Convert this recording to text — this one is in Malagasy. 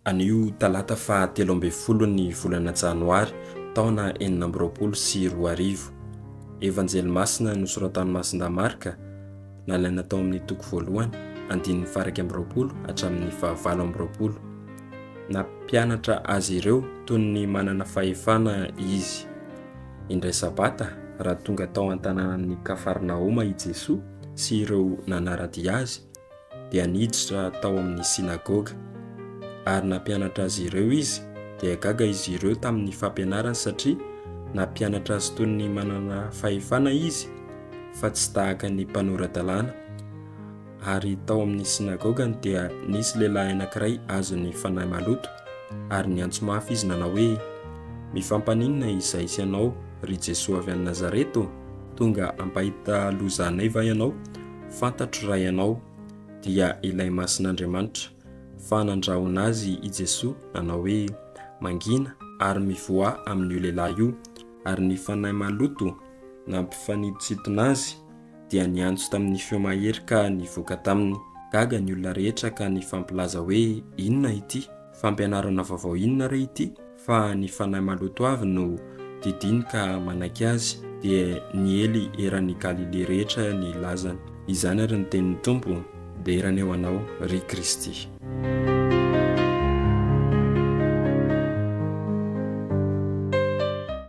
Anio talata faha telo ambin'ny folo ny volana janoary taona enina amby roapolo sy roa arivo. Evanjely masina nosoratan'i Masindahy Marka, nalaina tao amin'ny toko voalohany, andininy faharaika amby roapolo hatramin'ny fahavalo amby roapolo. Nampianatra azy ireo toy ny manana fahefana izy. Indray Sabata, raha tonga tao an-tanànan'i Kafarnaoma i Jesoa sy ireo nanara-dia azy, dia niditra tao amin'ny synagoga, ary nampianatra azy ireo izy. Dia gaga izy ireo tamin'ny fampianarany, satria nampianatra azy toy ny manana fahefana izy, fa tsy tahaka ny mpanora-dalàna. Ary tao amin'ny sinagogany dia nisy lehilahy anankiray azon'ny fanahy maloto, ary niantso mafy izy nanao hoe, Mifam-paninona izay sy anao, ry Jesoa avy any Nazareta? Tonga hampahita loza anay va ianao? Fantatro raha ianao dia ilay Masin'Andriamanitra. Fa nandrahona azy i Jesoa nanao hoe, Mangina ary mivoaha amin'io lehilahy io. Ary ny fanahy maloto nampifanintsintona azy. dia niantso tamin'ny feo mahery ka nivoaka taminy. Gaga ny olona rehetra ka nifampilaza hoe, Inona ity? Fampianarana vaovao inona re ity? Fa ny fanahy maloto avy no didiany ka manaiky azy. Dia niely eran'i Galilia rehetra ny lazany. Izany ary ny tenin'ny Tompo, Dera ny eo anao, ry Kristy.